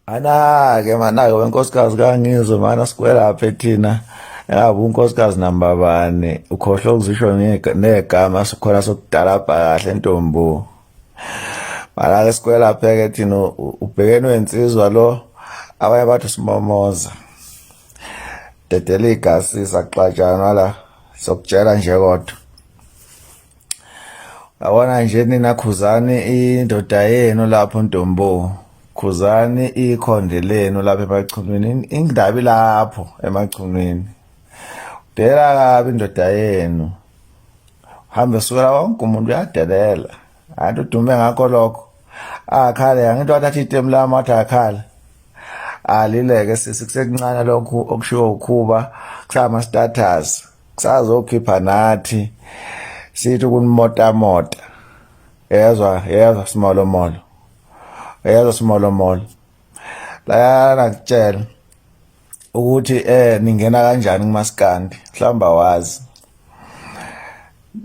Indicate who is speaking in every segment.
Speaker 1: Ana-ke mana-ke wenkosikazi kangizwe mana sikwelaphe thina yabo unkosikazi namba bani ukhohlwa ukuzisho negama sikhona sokudalabha kahle ntombo Malake sikwelapheke thina ubhekene wensizwa lo abanye bathi simomoza. Dedela igasi saxatshanwa la sokutshela nje kodwa. Yabona nje nina khuzani indoda yenu lapho Ntombo. Khuzani ikhonde lenu lapha emachunwini indabi lapho emachunwini. Dela kabi indoda yenu. hambe sukela wonke umuntu uyadelela anti udume ngakho lokho akhale angithi wathatha itemu lami wathi akhale alileke sisi kusekuncane lokhu okushiwo ukhuba kusama status kusazokhipha nathi sithi kunimotamota yezwa yezwa simolomolo yezwa simolomolo layana kutshela ukuthi eh ningena kanjani kumaskandi mhlamba wazi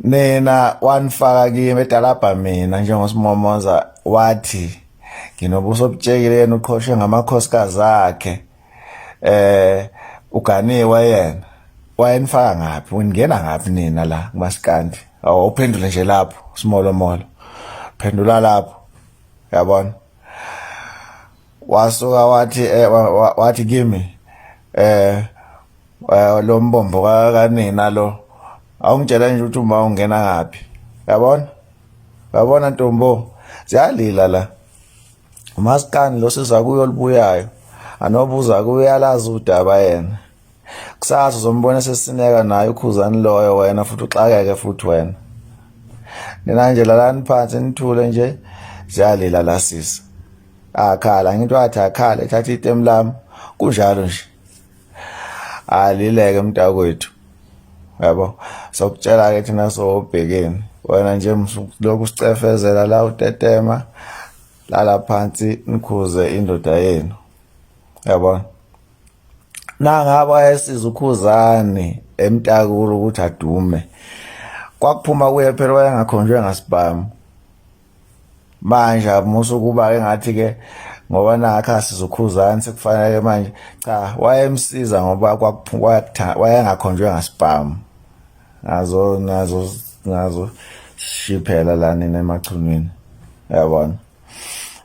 Speaker 1: nina wanifaka kimi edalabha mina njengosimomoza wathi nginobuso obutshekile yena uqhoshe ngamakhosikazi akhe eh uganiwe yena wayenifaka ngaphi uningena ngaphi nina la kumasikandi awuphendule nje lapho simolo molo phendula lapho yabona wasuka wathi eh, wathi kimi eh, eh lo mbombo kanina lo awungitshela nje ukuthi uma ungena ngaphi yabona yabona ntombo ziyalila la umaskani lo sizakuyo libuyayo anobuza kuyalazi udaba yena kusasa uzombona sesineka naye ukhuzani loyo wena futhi uxakeke futhi wena nina nje lalani phansi nithule nje ziyalila la sisi akhala ngithi wathi akhala ethatha itemu lami kunjalo nje alileke mntakwethu yabo sokutshela ke thina sobhekeni wena nje lokhu sicefezela la utetema lala phansi nikhuze indoda yenu yabona nangaba esiza ukhuzani emtakulu ukuthi adume kwakuphuma kuye phela wayengakhonjwe ngasibhamu manje amusa ukuba ke ngathi ke ngoba nakhe asizukhuzani sekufanele manje cha wayemsiza ngoba wayengakhonjwe ngasibhamu ngazo ngazo ngazo shiphela la nina emachunwini yabona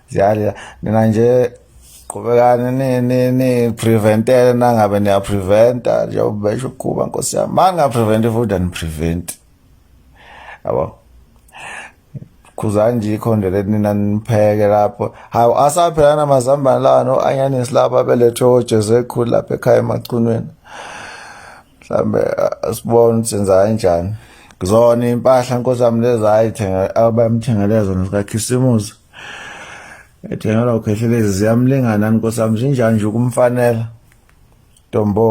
Speaker 1: ziyalila nina nje qhubekani ni ni ni preventele nangabe niya preventa njengoba besho ukuba nkosi yami ma ninga prevent futhi ani prevent yabo khuzani nje ikhonde leti nina nipheke lapho hawu asaphela namazambane lawa no anyanisi laba belethwe ojesu ekhulu lapha ekhaya emacunweni mhlambe asibone ukuthi senza kanjani kuzona impahla nkosi yami lezi ayithenga abayamthengele zona zikakhisimusi ethengelwa ukhehlelezi ziyamlingana nkosi yami zinjani nje ukumfanela ntombo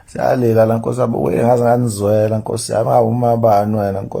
Speaker 1: siyalela la nkosi yami uye ngaze nganizwela nkosi yami ngawumabani wena nkosi